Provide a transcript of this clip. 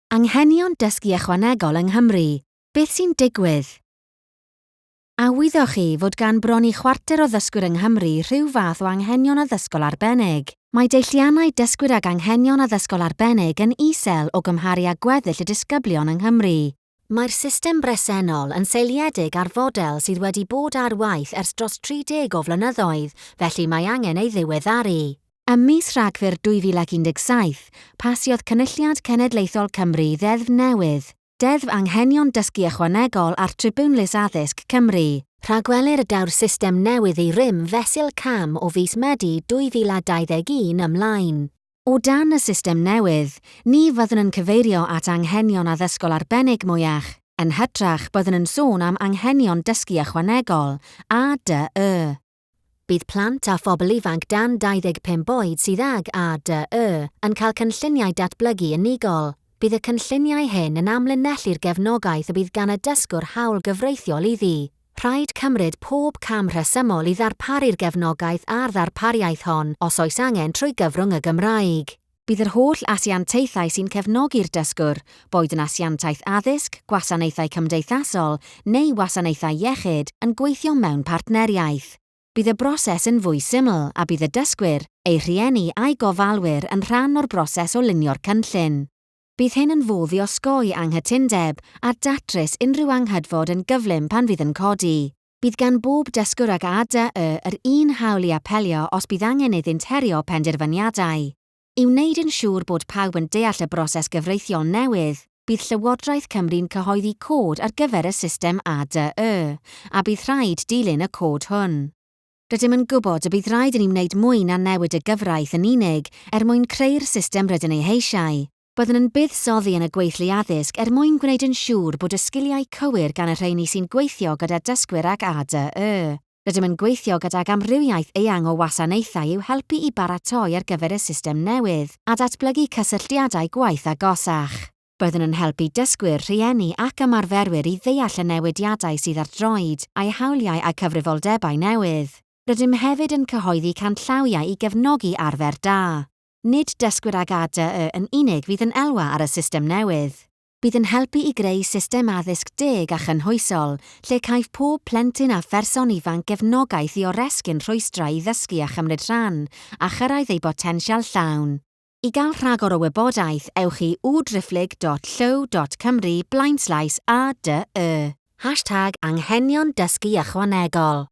Anghenion Dysgu Ychwanegol yng Nghymru, Beth sy'n digwydd? A wyddoch chi fod gan bron i chwarter o ddysgwyr yng Nghymru rhyw fath o anghenion addysgol arbennig? Mae deilliannau dysgwyr ag anghenion addysgol arbennig yn isel o gymharu â gweddill y disgyblion yng Nghymru. Mae'r system bresennol yn seiliedig ar fodel sydd wedi bod ar waith ers dros 30 o flynyddoedd, felly mae angen ei ddiweddaru. Ym mis Rhagfyr 2017, pasiodd Cynulliad Cenedlaethol Cymru Ddeddf newydd, Deddf Anghenion Dysgu Ychwanegol a'r Tribiwnlys Addysg, Cymru. Rhagwelir y daw'r system newydd i rym fesul cam o fis Medi 2021 ymlaen. O dan y system newydd, ni fyddwn yn cyfeirio at anghenion addysgol arbennig mwyach, yn hytrach byddwn yn sôn am anghenion dysgu ychwanegol, ADY. Bydd plant a phobl ifanc dan 25 oed sydd ag ADY yn cael cynlluniau datblygu unigol. Bydd y cynlluniau hyn yn amlinellu'r gefnogaeth y bydd gan y dysgwr hawl gyfreithiol iddi Rhaid cymryd pob cam rhesymol i ddarparu'r gefnogaeth a'r ddarpariaeth hon, os oes angen, trwy gyfrwng y Gymraeg. Bydd yr holl asiantaethau sy'n cefnogi'r dysgwr, boed yn asiantaeth addysg, gwasanaethau cymdeithasol neu wasanaethau iechyd, yn gweithio mewn partneriaeth. Bydd y broses yn fwy syml a bydd y dysgwyr, eu rhieni a'u gofalwyr yn rhan o'r broses o lunio'r cynllun. Bydd hyn yn fodd i osgoi anghytundeb a datrys unrhyw anghydfod yn gyflym pan fydd yn codi. Bydd gan bob dysgwr ag ADY yr un hawl i apelio os bydd angen iddynt herio penderfyniadau. I wneud yn siŵr bod pawb yn deall y broses gyfreithiol newydd, bydd Llywodraeth Cymru'n cyhoeddi cod ar gyfer y system ADY, a bydd rhaid dilyn y cod hwn. Rydym yn gwybod y bydd rhaid i ni wneud mwy na newid y gyfraith yn unig er mwyn creu'r system rydyn ei heisiau. Byddwn yn buddsoddi yn y gweithlu addysg er mwyn gwneud yn siŵr bod y sgiliau cywir gan y rheini sy'n gweithio gyda dysgwyr ag ADY. Rydym yn gweithio gydag amrywiaeth eang o wasanaethau i'w helpu i baratoi ar gyfer y system newydd a datblygu cysylltiadau gwaith agosach. Byddwn yn helpu dysgwyr, rhieni ac ymarferwyr i ddeall y newidiadau sydd ar droed, a'u hawliau a cyfrifoldebau newydd. Rydym hefyd yn cyhoeddi canllawiau i gefnogi arfer da. Nid dysgwyr ag ADY yn unig fydd yn elwa ar y system newydd. Bydd yn helpu i greu system addysg deg a chynhwysol lle caiff pob plentyn a pherson ifanc gefnogaeth i oresgyn rhwystrau i ddysgu a chymryd rhan a chyrraedd eu botensial llawn. I gael rhagor o wybodaeth, ewch i www.driphlyg.llyw.cymru blaenslaes ADY. Hashtag Anghenion Dysgu Ychwanegol.